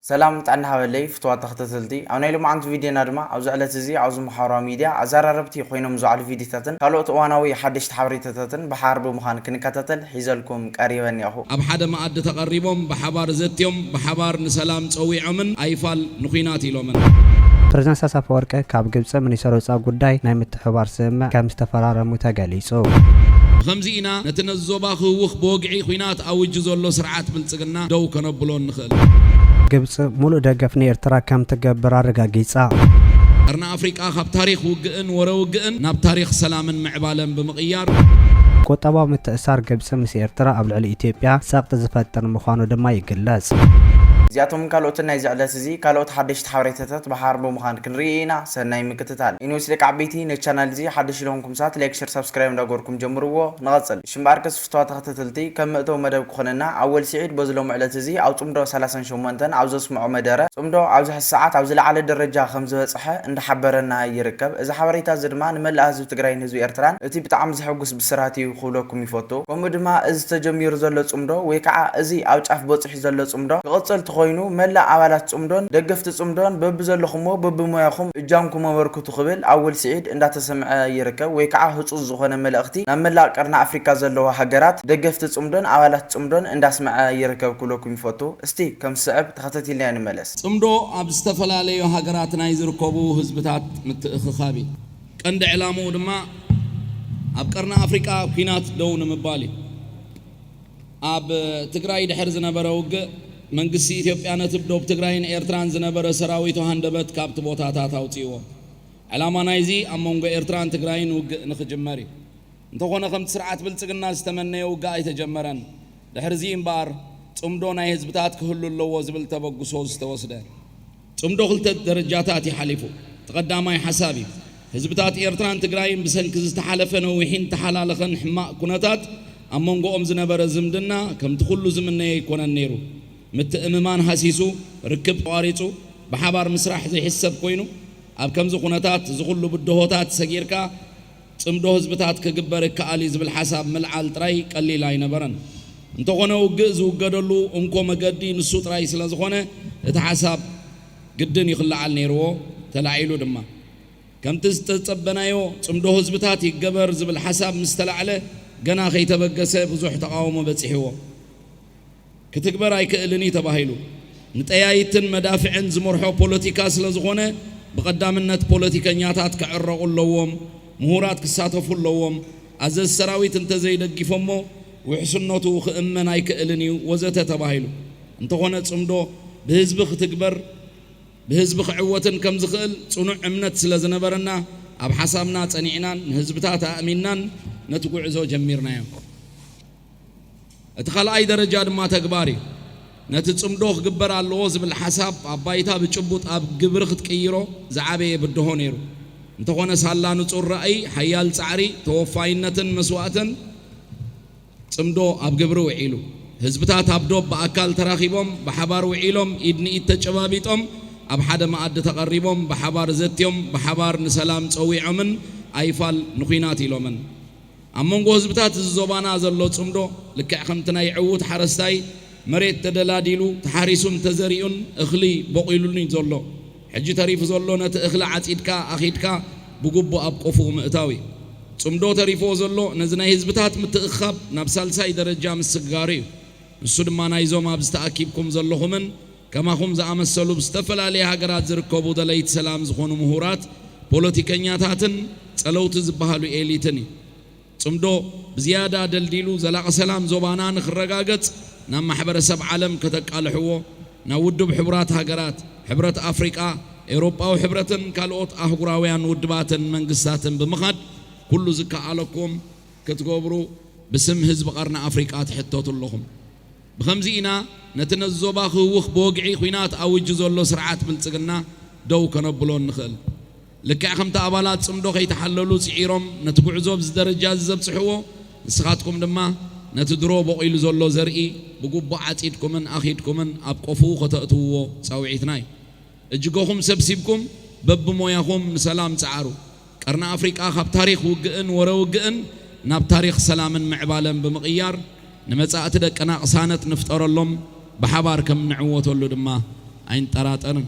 ሰላም ጥዕና ሃበለይ ፍቱዋት ተኸታተልቲ ኣብ ናይ ሎምዓንቲ ቪድዮና ድማ ኣብዚ ዕለት እዚ ኣብዚ ማሓበራዊ ሚድያ ኣዛራረብቲ ኮይኖም ዝውዓሉ ቪድዮታትን ካልኦት እዋናዊ ሓደሽቲ ሓበሬታታትን ብሓባር ብምዃን ክንከታተል ሒዘልኩም ቀሪበ እኒኣኹ። ኣብ ሓደ መኣዲ ተቐሪቦም ብሓባር ዘትዮም ብሓባር ንሰላም ፀዊዖምን ኣይፋል ንኩናት ኢሎምን። ፕሬዝዳንት ኢሳያስ ኣፈወርቂ ካብ ግብፂ ሚኒስትር ወፃኢ ጉዳይ ናይ ምትሕብባር ስምምዕ ከምዝተፈራረሙ ተገሊፁ። ብኸምዚ ኢና ነቲ ነዚ ዞባ ክህውኽ ብወግዒ ኩናት ኣውጁ ዘሎ ስርዓት ብልፅግና ደው ከነብሎ እንኽእል። ግብጺ ሙሉእ ደገፍ ንኤርትራ ከም ትገብር ኣረጋጊጻ። ቀርኒ ኣፍሪቃ ካብ ታሪኽ ውግእን ወረ ውግእን ናብ ታሪኽ ሰላምን ምዕባለን ብምቕያር፣ ቁጠባዊ ምትእስሳር ግብጺ ምስ ኤርትራ ኣብ ልዕሊ ኢትዮጵያ ጸቕጢ ዝፈጥር ምዃኑ ድማ ይግለጽ። እዚኣቶምን ካልኦትን ናይዚ ዕለት እዚ ካልኦት ሓደሽቲ ሓበሬታታት ብሓባር ብምዃን ክንርኢ ኢና ሰናይ ምክትታል። Anyways ደቂ ዓበይቲ ነዚ ቻናል እዚ ሓደሽቲ ዝኾንኩም ሰባት ላይክ ሸር ሳብስክራይብ እንዳገበርኩም ጀምርዎ ንቐጽል እሺ እምበኣርከስ። ጽፍዋ ተኸተተልቲ፣ ከም መእተዊ መደብ ክኾነና፣ ኣወል ሲዒድ በዚ ሎሚ ዕለት እዚ ኣብ ጽምዶ ሰላሳን ሸሞንተን ኣብ ዘስምዖ መደረ፣ ጽምዶ ኣብዚ ሕዚ ሰዓት ኣብ ዝለዓለ ደረጃ ከም ዝበጸሐ እንዳሓበረና ይርከብ። እዚ ሓበሬታ እዚ ድማ ንመላእ ህዝቢ ትግራይን ህዝቢ ኤርትራን እቲ ብጣዕሚ ዘሕጉስ ብስራት እዩ ክብለኩም ይፈቱ። ከምኡ ድማ እዚ ተጀሚሩ ዘሎ ጽምዶ ወይ ከዓ እዚ ኣብ ጫፍ በጺሑ፣ ዘሎ ጽምዶ ክቕጽል ተኾይኑ መላእ ኣባላት ጽምዶን ደገፍቲ ጽምዶን በብዘለኹምዎ በብሞያኹም እጃምኩም ኣበርክቱ ክብል ኣወል ስዒድ እንዳተሰምዐ ይርከብ ወይ ከዓ ህጹጽ ዝኾነ መልእኽቲ ናብ መላእ ቀርኒ ኣፍሪካ ዘለዋ ሃገራት ደገፍቲ ጽምዶን ኣባላት ጽምዶን እንዳስመዐ ይርከብ ክብለኩም ይፈቱ እስቲ ከም ዝስዕብ ተኸተቲልናዮ ንመለስ። ጽምዶ ኣብ ዝተፈላለዩ ሃገራት ናይ ዝርከቡ ህዝብታት ምትእኽኻብ እዩ። ቀንዲ ዕላምኡ ድማ ኣብ ቀርኒ ኣፍሪቃ ኲናት ደው ንምባል እዩ። ኣብ ትግራይ ድሕሪ ዝነበረ ውግእ፣ መንግስቲ ኢትዮጵያ ነቲ ብ ዶብ ትግራይን ኤርትራን ዝነበረ ሰራዊቱ ሃንደበት ካብቲ ቦታታት ኣውጺእዎ። ዕላማ ናይዚ ኣብ መንጎ ኤርትራን ትግራይን ውግእ ንኽጅመር እዩ። እንተኾነ ከምቲ ስርዓት ብልጽግና ዝተመነየ ውግእ ኣይተጀመረን። ድሕሪዚ እምበኣር ጽምዶ ናይ ህዝብታት ክህሉ ኣለዎ ዝብል ተበግሶ ዝተወስደ። ጽምዶ ክልተ ደረጃታት እዩ ሓሊፉ። እቲ ቀዳማይ ሓሳብ እዩ። ህዝብታት ኤርትራን ትግራይን ብሰንኪ ዝተሓለፈ ነዊሕን ዝተሓላለኸን ሕማቕ ኩነታት ኣብ መንጎኦም ዝነበረ ዝምድና ከምቲ ኩሉ ዝምነዮ ኣይኮነን ነይሩ። ምትእምማን ሃሲሱ፣ ርክብ ተቋሪጹ፣ ብሓባር ምስራሕ ዘይሕሰብ ኮይኑ፣ ኣብ ከምዚ ኩነታት እዚ ኩሉ ብድሆታት ሰጊርካ ጽምዶ ህዝብታት ክግበር ይከኣል እዩ ዝብል ሓሳብ ምልዓል ጥራይ ቀሊል ኣይነበረን። እንተኾነ ውግእ ዝውገደሉ እንኮ መገዲ ንሱ ጥራይ ስለ ዝኾነ እቲ ሓሳብ ግድን ይኽለዓል ነይርዎ፣ ተላዒሉ ድማ። ከምቲ ዝተጸበናዮ ጽምዶ ህዝብታት ይገበር ዝብል ሓሳብ ምስ ተላዕለ ገና ከይተበገሰ ብዙሕ ተቓውሞ በጺሕዎ። ክትግበር ኣይክእልን እዩ ተባሂሉ። ንጠያይትን መዳፍዕን ዝመርሖ ፖለቲካ ስለዝኾነ ብቐዳምነት ፖለቲከኛታት ክዕረቑ ኣለዎም፣ ምሁራት ክሳተፉ ኣለዎም፣ ኣዘዝቲ ሰራዊት እንተዘይደጊፎሞ ውሕስነቱ ክእመን ኣይክእልን እዩ ወዘተ ተባሂሉ። እንተኾነ ፅምዶ ብህዝቢ ክትግበር ብህዝቢ ክዕወትን ከምዝኽእል ፅኑዕ እምነት ስለዝነበረና ኣብ ሓሳብና ፀኒዕናን ንህዝብታት ኣእሚንናን ነቲ ጉዕዞ ጀሚርናዮ። እቲ ካልኣይ ደረጃ ድማ ተግባር እዩ። ነቲ ጽምዶ ክግበር ኣለዎ ዝብል ሓሳብ ኣብ ባይታ ብጭቡጥ ኣብ ግብሪ ክትቅይሮ ዝዓበየ ብድሆ ነይሩ። እንተኾነ ሳላ ንጹር ራእይ፣ ሓያል ጻዕሪ፣ ተወፋይነትን መስዋእትን ጽምዶ ኣብ ግብሪ ውዒሉ። ህዝብታት ኣብ ዶብ ብኣካል ተራኺቦም፣ ብሓባር ውዒሎም፣ ኢድ ንኢድ ተጨባቢጦም፣ ኣብ ሓደ መኣዲ ተቐሪቦም፣ ብሓባር ዘትዮም፣ ብሓባር ንሰላም ጸዊዖምን ኣይፋል ንኩናት ኢሎምን። ኣብ መንጎ ህዝብታት እዚ ዞባና ዘሎ ጽምዶ ልክዕ ከምቲ ናይ ዕዉት ሓረስታይ መሬት ተደላዲሉ፣ ተሓሪሱን ተዘሪኡን እኽሊ ቦቒሉን'ዩ ዘሎ። ሕጂ ተሪፉ ዘሎ ነቲ እኽሊ ዓጺድካ ኣኺድካ ብግቡእ ኣብ ቆፎኡ ምእታው'ዩ። ጽምዶ ተሪፍዎ ዘሎ ነዚ ናይ ህዝብታት ምትእኽኻብ ናብ ሳልሳይ ደረጃ ምስግጋር'ዩ። ንሱ ድማ ናይዞም ኣብዚ ተኣኪብኩም ዘለኹምን፣ ከማኹም ዝኣመሰሉ ብዝተፈላለየ ሃገራት ዝርከቡ ደለይቲ ሰላም ዝኾኑ ምሁራት፣ ፖለቲከኛታትን ጸለውቲ ዝበሃሉ ኤሊትን እዩ። ጽምዶ ብዝያዳ ደልዲሉ ዘላቒ ሰላም ዞባና ንክረጋገጽ ናብ ማሕበረሰብ ዓለም ከተቃልሕዎ፣ ናብ ውድብ ሕቡራት ሃገራት፣ ሕብረት ኣፍሪቃ፣ ኤውሮጳዊ ሕብረትን ካልኦት ኣህጉራውያን ውድባትን መንግስታትን ብምኻድ ኩሉ ዝከኣለኩም ክትገብሩ ብስም ህዝቢ ቀርኒ ኣፍሪቃ ትሕተቱ ኣለኹም። ብኸምዚ ኢና ነቲ ነዚ ዞባ ክህውኽ ብወግዒ ኲናት ኣዊጁ ዘሎ ስርዓት ብልጽግና ደው ከነብሎ እንኽእል። ልክዕ ከምቲ ኣባላት ጽምዶ ከይተሓለሉ ጽዒሮም ነቲ ጉዕዞ ኣብዚ ደረጃዚ ዘብጽሕዎ፣ ንስኻትኩም ድማ ነቲ ድሮ ቦቒሉ ዘሎ ዘርኢ ብግቡእ ዓጺድኩምን ኣኺድኩምን ኣብ ቆፍኡ ከተእትውዎ ጻውዒትና እዩ። እጅገኹም ሰብሲብኩም በብሞያኹም ንሰላም ጽዓሩ። ቀርኒ ኣፍሪቃ ካብ ታሪኽ ውግእን ወረ ውግእን ናብ ታሪኽ ሰላምን ምዕባለን ብምቕያር ንመጻእቲ ደቅና ቅሳነት ንፍጠረሎም ብሓባር ከም እንዕወተሉ ድማ ኣይንጠራጠርን።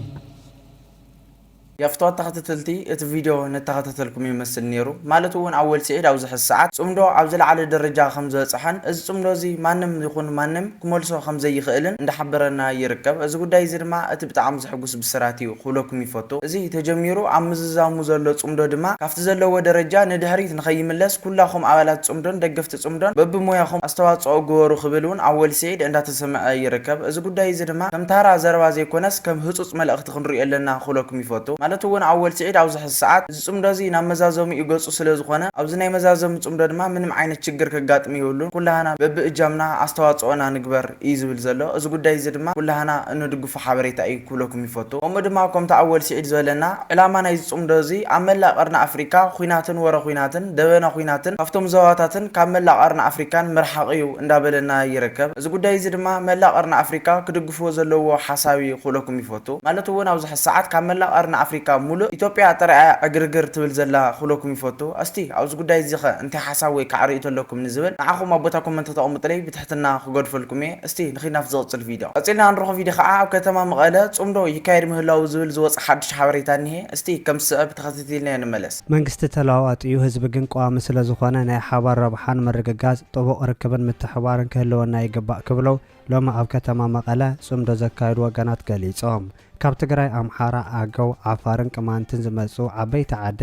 የፍትዋ ተኸተተልቲ እቲ ቪድዮ ነተኸታተልኩም ይመስል ኔሩ ማለት እውን ኣወል ሲዒድ ኣብዚ ሕዚ ሰዓት ጽምዶ ኣብ ዝለዓለ ደረጃ ከምዝበጽሐን እዚ ጽምዶ እዚ ማንም ይኹን ማንም ክመልሶ ከምዘይኽእልን እንዳሓበረና ይርከብ እዚ ጉዳይ እዚ ድማ እቲ ብጣዕሚ ዘሕጉስ ብስራት እዩ ክብለኩም ይፈቱ። እዚ ተጀሚሩ ኣብ ምዝዛሙ ዘሎ ጽምዶ ድማ ካብቲ ዘለዎ ደረጃ ንድሕሪት ንኸይምለስ ኩላኹም ኣባላት ጽምዶን ደገፍቲ ጽምዶን በብሞያኹም ኣስተዋጽኦ ግበሩ ክብል እውን ኣብ ወልስዒድ እንዳተሰምዐ ይርከብ። እዚ ጉዳይ እዚ ድማ ከም ታራ ዘረባ ዘይኮነስ ከም ህጹጽ መልእኽቲ ክንርእዮ ኣለና ክብለኩም ይፈቱ። ማለት እውን ኣብ ወልስዒድ ኣብዚ ሕዚ ሰዓት እዚ ጽምዶ እዚ ናብ መዛዘሚኡ ገጹ ስለ ዝኾነ ኣብዚ ናይ መዛዘሚ ጽምዶ ድማ ምንም ዓይነት ችግር ከጋጥም የብሉን ኩላህና በቢ እጃምና ኣስተዋጽኦና ንግበር እዩ ዝብል ዘሎ እዚ ጉዳይ እዚ ድማ ኩላህና እንድግፎ ሓበሬታ እዩ ክብለኩም ይፈቱ ከምኡ ድማ ኮምቲ ኣወል ሲዒድ ዝበለና ዕላማ ናይዚ ጽምዶ እዚ ኣብ መላእ ቀርኒ ኣፍሪቃ ኹናትን ወረ ኹናትን ደበና ኹናትን ካፍቶም ዘዋታትን ካብ መላእ ቀርኒ ኣፍሪቃን ምርሓቕ እዩ እንዳበለና ይረከብ እዚ ጉዳይ እዚ ድማ መላእ ቀርኒ ኣፍሪቃ ክድግፍዎ ዘለዎ ሓሳብ እዩ ክብለኩም ይፈቱ ማለት እውን ኣብዚ ሰዓት ካብ መላእ ቀርኒ ኣፍሪቃ ሙሉእ ኢትዮጵያ ጥራይ እያ ዕግርግር ትብል ዘላ ክብለኩም ይፈቱ። ኣስቲ ኣብዚ ጉዳይ እዚ ከ እንታይ ሓሳብ ወይ ከዓ ሪኢቶ ኣለኩም ንዝብል ንዓኹም ኣብ ቦታ ኮመንት ከተቅምጡለይ ብትሕትና ክገድፈልኩም እየ። እስቲ ንኺድ ናብቲ ዝቅጽል ቪድዮ። ቀጺልና እንረኽቦ ቪድዮ ከዓ ኣብ ከተማ መቐለ ጽምዶ ይካየድ ምህላዉ ዝብል ዝወጸ ሓዱሽ ሓበሬታ እኒሀ። እስቲ ከም ዝስዕብ ተኸታቲልናዮ ንመለስ። መንግስቲ ተለዋዋጢ እዩ ህዝቢ ግን ቀዋሚ ስለዝኾነ ናይ ሓባር ረብሓን ምርግጋፅ፣ ጥቡቕ ርክብን ምትሕብባርን ክህልወና ይግባእ ክብሉ ሎሚ ኣብ ከተማ መቐለ ፅምዶ ዘካየዱ ወገናት ገሊፆም። ካብ ትግራይ፣ ኣምሓራ፣ ኣገው፣ ዓፋርን ቅማንትን ዝመፅኡ ዓበይቲ ዓዲ፣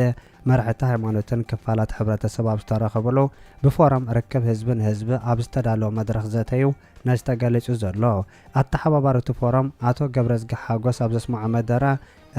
መራሕቲ ሃይማኖትን ክፋላት ሕብረተሰብ ኣብ ዝተረኸብሉ ብፎረም ርክብ ህዝቢ ንህዝቢ ኣብ ዝተዳለወ መድረኽ ዘተ ዩ ነዚ ተገሊፁ ዘሎ። ኣተሓባባሪ እቲ ፎረም ኣቶ ገብረዝጊ ሓጎስ ኣብ ዘስመዖ መደረ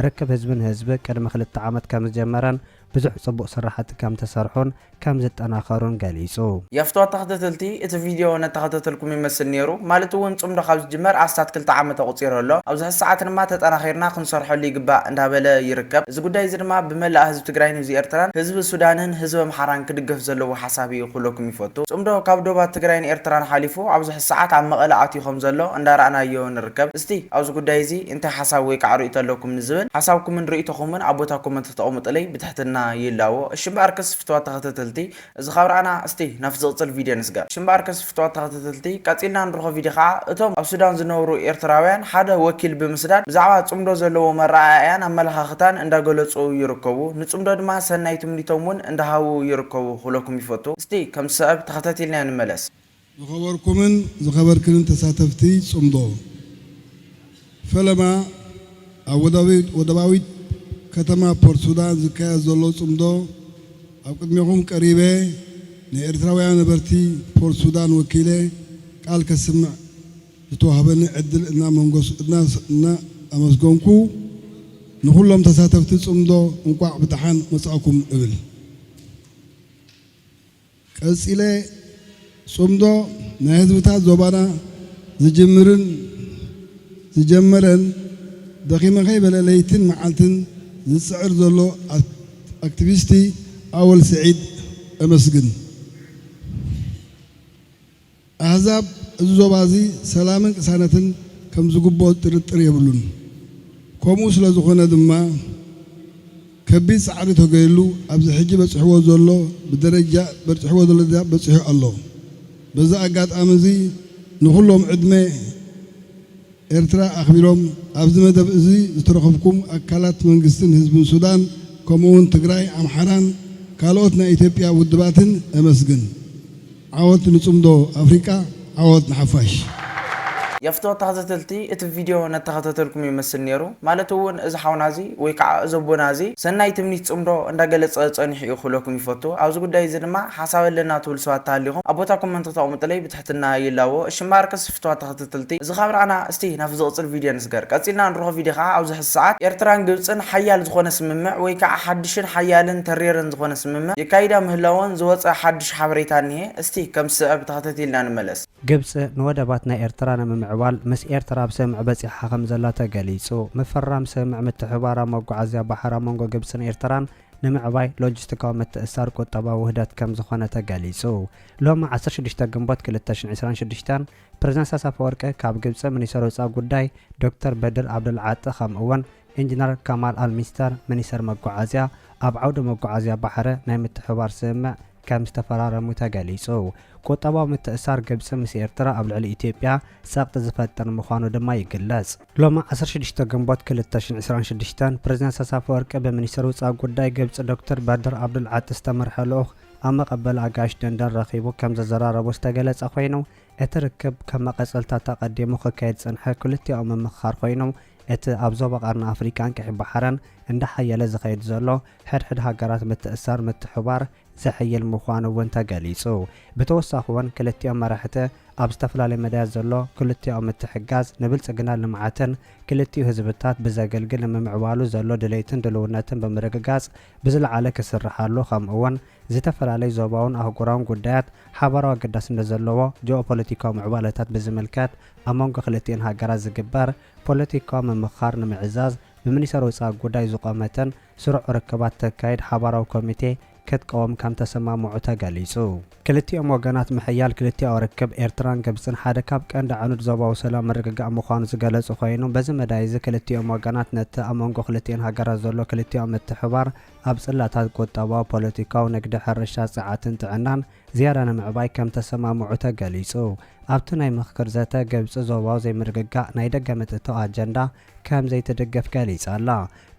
ርክብ ህዝቢ ንህዝቢ ቅድሚ ክልተ ዓመት ከምዝጀመረን ብዙሕ ፅቡቕ ስራሕቲ ከም ተሰርሑን ከም ዝጠናኸሩን ገሊፁ። የፍትዋ ተኸተተልቲ እቲ ቪድዮ ነተኸተተልኩም ይመስል ነይሩ ማለት እውን ፅምዶ ካብ ዝጅመር ኣስታት ክልተ ዓመት ኣቑፂሩ ኣሎ ኣብዚ ሕዚ ሰዓት ድማ ተጠናኺርና ክንሰርሐሉ ይግባእ እንዳበለ ይርከብ እዚ ጉዳይ እዚ ድማ ብመላእ ህዝቢ ትግራይን ህዝቢ ኤርትራን ህዝቢ ሱዳንን ህዝቢ ኣምሓራን ክድገፍ ዘለዎ ሓሳብ እዩ ክብለኩም ይፈቱ ፅምዶ ካብ ዶባት ትግራይን ኤርትራን ሓሊፉ ኣብዚ ሕዚ ሰዓት ኣብ መቐለ ኣትዩ ከም ዘሎ እንዳረኣናዮ ንርከብ እስቲ ኣብዚ ጉዳይ እዚ እንታይ ሓሳብ ወይ ካዓ ርእይቶ ኣለኩም ንዝበል ሓሳብኩምን ርእይቶኹምን ኣብ ቦታ ኮመንት ክትቐሙጥለይ ብትሕትና ይላዎ እሺ እምበኣርከስ ፍትዋት ተኸተተልቲ እዚ ካብ ራኣና እስቲ ናብቲ ዝቕጽል ቪድዮ ንስገር እሺ እምበኣርከስ ፍትዋት ተኸተተልቲ ቀጺልና ንርኾ ቪድዮ ካዓ እቶም ኣብ ሱዳን ዝነብሩ ኤርትራውያን ሓደ ወኪል ብምስዳድ ብዛዕባ ጽምዶ ዘለዎም ኣራኣእያን ኣመላኻኽታን እንዳገለጹ ይርከቡ ንጽምዶ ድማ ሰናይ ትምኒቶም ውን እንዳሃቡ ይርከቡ ክብለኩም ይፈቱ እስቲ ከምቲ ሰእብ ተኸተቲልና ንመለስ። ዝኸበርኩምን ዝኸበርክንን ተሳተፍቲ ጽምዶ ፈለማ፣ ኣብ ወደባዊት ከተማ ፖርትሱዳን ዝካየድ ዘሎ ጽምዶ ኣብ ቅድሜኹም ቀሪበ ንኤርትራውያን ነበርቲ ፖርትሱዳን ወኪለ ቃል ከስምዕ ዝተዋህበኒ ዕድል እናኣመስገንኩ፣ ንኹሎም ተሳተፍቲ ጽምዶ እንቋዕ ብደሓን መጻእኩም እብል። ቀጺለ ጽምዶ ናይ ህዝብታት ዞባና ዝጅምርን ዝጀመረን ደኺመ ከይበለ ለይትን መዓልትን ዝጽዕር ዘሎ ኣክትቪስቲ ኣወል ስዒድ እመስግን። ኣህዛብ እዚ ዞባ እዚ ሰላምን ቅሳነትን ከም ዝግብኦ ጥርጥር የብሉን። ከምኡ ስለ ዝኾነ ድማ ከቢድ ጻዕሪ ተገይርሉ ኣብዚ ሕጂ በጺሕዎ ዘሎ ብደረጃ በርጺሕዎ ዘሎ ደረጃ በጺሑ ኣሎ። በዚ ኣጋጣሚ እዚ ንኹሎም ዕድመ ኤርትራ ኣኽቢሮም ኣብዚ መደብ እዚ ዝተረኽብኩም ኣካላት መንግስትን ህዝብን ሱዳን ከምኡውን ትግራይ፣ ኣምሓራን ካልኦት ናይ ኢትዮጵያ ውድባትን እመስግን። ዓወት ንጽምዶ ኣፍሪቃ ዓወት ንሓፋሽ። የፍትወ ተኸተተልቲ እቲ ቪድዮ ነተኸተተልኩም ይመስል ኔሩ ማለት እውን እዚ ሓውና እዚ ወይ ካዓ እዚ ኣቦና እዚ ሰናይ ትምኒት ፅምዶ እንዳገለፀ ፀኒሑ እዩ ክብለኩም ይፈቱ ኣብዚ ጉዳይ እዚ ድማ ሓሳብ ኣለና ትብሉ ሰባት ተሃሊኹም ኣብ ቦታኩም እንተተቅምጡለይ ብትሕትና ይላቦ እሺ እምበኣር ፍትዋት ተኸተተልቲ እዚ ካብ ራኣና እስቲ ናብቲ ዝቕጽል ቪድዮ ንስገር። ቀጺልና ንርሆ ቪድዮ ከኣ ኣብዚ ሕዚ ሰዓት ኤርትራን ግብጽን ሓያል ዝኾነ ስምምዕ ወይ ከኣ ሓድሽን ሓያልን ተሪርን ዝኾነ ስምምዕ የካይዳ ምህላወን ዝወጸ ሓድሽ ሓበሬታ እኒሀ እስቲ ከም ዝስዕብ ተኸተቲልና ንመለስ። ግብጽ ንወደባት ናይ ኤርትራ ንምምዕባል ምስ ኤርትራ ኣብ ስምምዕ በጺሓ ከም ዘላ ተገሊጹ። ምፍራም ስምምዕ ምትሕብባር ኣብ መጓዓዝያ ባሕር ኣብ መንጎ ግብጽን ኤርትራን ንምዕባይ ሎጂስቲካዊ ምትእስሳር ቁጠባዊ ውህደት ከምዝኾነ ተገሊፁ። ሎሚ ዓሰርተ ሽዱሽተ ግንቦት ክልተ ሽሕን ዕስራን ሽዱሽተን ፕረዚደንት ኢሳያስ ኣፈወርቂ ካብ ግብፂ ሚኒስተር ወፃኢ ጉዳይ ዶክተር በድር ዓብደልዓጢ ከምኡ እውን ኢንጂነር ከማል ኣልሚስተር ሚኒስተር መጓዓዝያ ኣብ ዓውዲ መጓዓዝያ ባሕሪ ናይ ምትሕብባር ስምምዕ ከም ዝተፈራረሙ ተገሊጹ። ቁጠባዊ ምትእስሳር ግብጺ ምስ ኤርትራ ኣብ ልዕሊ ኢትዮጵያ ጸቕጢ ዝፈጥር ምዃኑ ድማ ይግለጽ። ሎሚ ዓሰርተ ሽዱሽተ ግንቦት ክልተ ሽሕን ዕስራን ሽዱሽተን፣ ፕረዚደንት ኢሳያስ ኣፈወርቂ ብሚኒስተር ውጻእ ጉዳይ ግብጺ ዶክተር በድር ኣብዱል ዓጢ ዝተመርሐ ልኡኽ ኣብ መቐበሊ ኣጋይሽ ደንደን ረኺቡ ከም ዘዘራረቦ ዝተገለጸ ኮይኑ፣ እቲ ርክብ ከም መቐጸልታቱ ኣቐዲሙ ክካየድ ዝጸንሐ ክልቲኣዊ ምምኽኻር ኮይኑ፣ እቲ ኣብ ዞባ ቀርኒ ኣፍሪቃን ቀይሕ ባሕርን እንዳሓየለ ዝኸይድ ዘሎ ሕድሕድ ሃገራት ምትእስሳር ምትሕብባር ዘሐይል ምዃኑ እውን ተገሊፁ። ብተወሳኺ እውን ክልቲኦም መራሕቲ ኣብ ዝተፈላለዩ መዳያት ዘሎ ክልቲኣዊ ምትሕግጋዝ ንብልፅግናን ልምዓትን ክልቲኡ ህዝብታት ብዘገልግል ንምምዕባሉ ዘሎ ድሌትን ድልውነትን ብምርግጋፅ ብዝለዓለ ክስርሓሉ ከምኡ እውን ዝተፈላለዩ ዞባውን ኣህጉራውን ጉዳያት ሓባራዊ ኣገዳስነት ዘለዎ ጂኦፖለቲካዊ ምዕባለታት ብዝምልከት ኣብ መንጎ ክልቲኤን ሃገራት ዝግበር ፖለቲካዊ ምምኽኻር ንምዕዛዝ ብሚኒሰር ወፃኢ ጉዳይ ዝቖመተን ስሩዕ ርክባት ተካይድ ሓባራዊ ኮሚቴ ክትቀውም ከምተሰማምዑ ተገሊፁ። ክልቲኦም ወገናት ምሕያል ክልቲኣዊ ርክብ ኤርትራን ግብፅን ሓደ ካብ ቀንዲ ዓኑድ ዞባዊ ሰላም ምርግጋእ ምዃኑ ዝገለፁ ኮይኑ በዚ መዳይ እዚ ክልቲኦም ወገናት ነቲ ኣብ መንጎ ክልቲኤን ሃገራት ዘሎ ክልቲኣዊ ምትሕብባር ኣብ ፅላታት ቁጠባዊ፣ ፖለቲካዊ፣ ንግዲ፣ ሕርሻ፣ ፀዓትን ጥዕናን ዝያዳ ንምዕባይ ከምተሰማምዑ ተገሊፁ። ኣብቲ ናይ ምኽክር ዘተ ግብፂ ዞባዊ ዘይምርግጋእ ናይ ደገ ምትእትታው ኣጀንዳ ከም ዘይትድግፍ ገሊጻ ኣላ።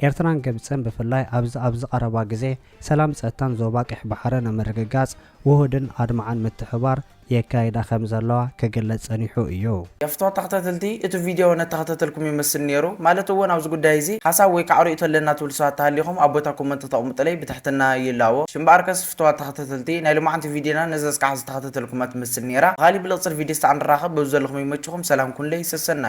ኤርትራን ግብጽን ብፍላይ ኣብዚ ኣብዚ ቀረባ ግዜ ሰላም ጸጥታን ዞባ ቀይሕ ባሕሪ ንምርግጋጽ ውሁድን ኣድማዕን ምትሕብባር የካይዳ ከም ዘለዋ ክግለጽ ጸኒሑ እዩ። ገፍቶ ተኸታተልቲ እቲ ቪድዮ ነተኸታተልኩም ይመስል ኔሩ ማለት እውን ኣብዚ ጉዳይ እዚ ሓሳብ ወይ ካዓ ርእይቶ ኣለና ትብሉ ሰባት ተሃሊኹም ኣብ ቦታ ኮመንት ክተቕምጡለይ ብትሕትና ይላቦ እሺ እምበኣር ከስ ፍትዋት ተኸታተልቲ ናይ ሎማዓንቲ ቪድዮና ነዛ እስካዕ ዝተኸታተልኩማ ትመስል ኔራ ብኻሊእ ብልቕጽል ቪድዮ እስታዕ ንራኸብ በብዘለኹም ይመችኹም ሰላም ኩኑለይ ሰሰናዩ።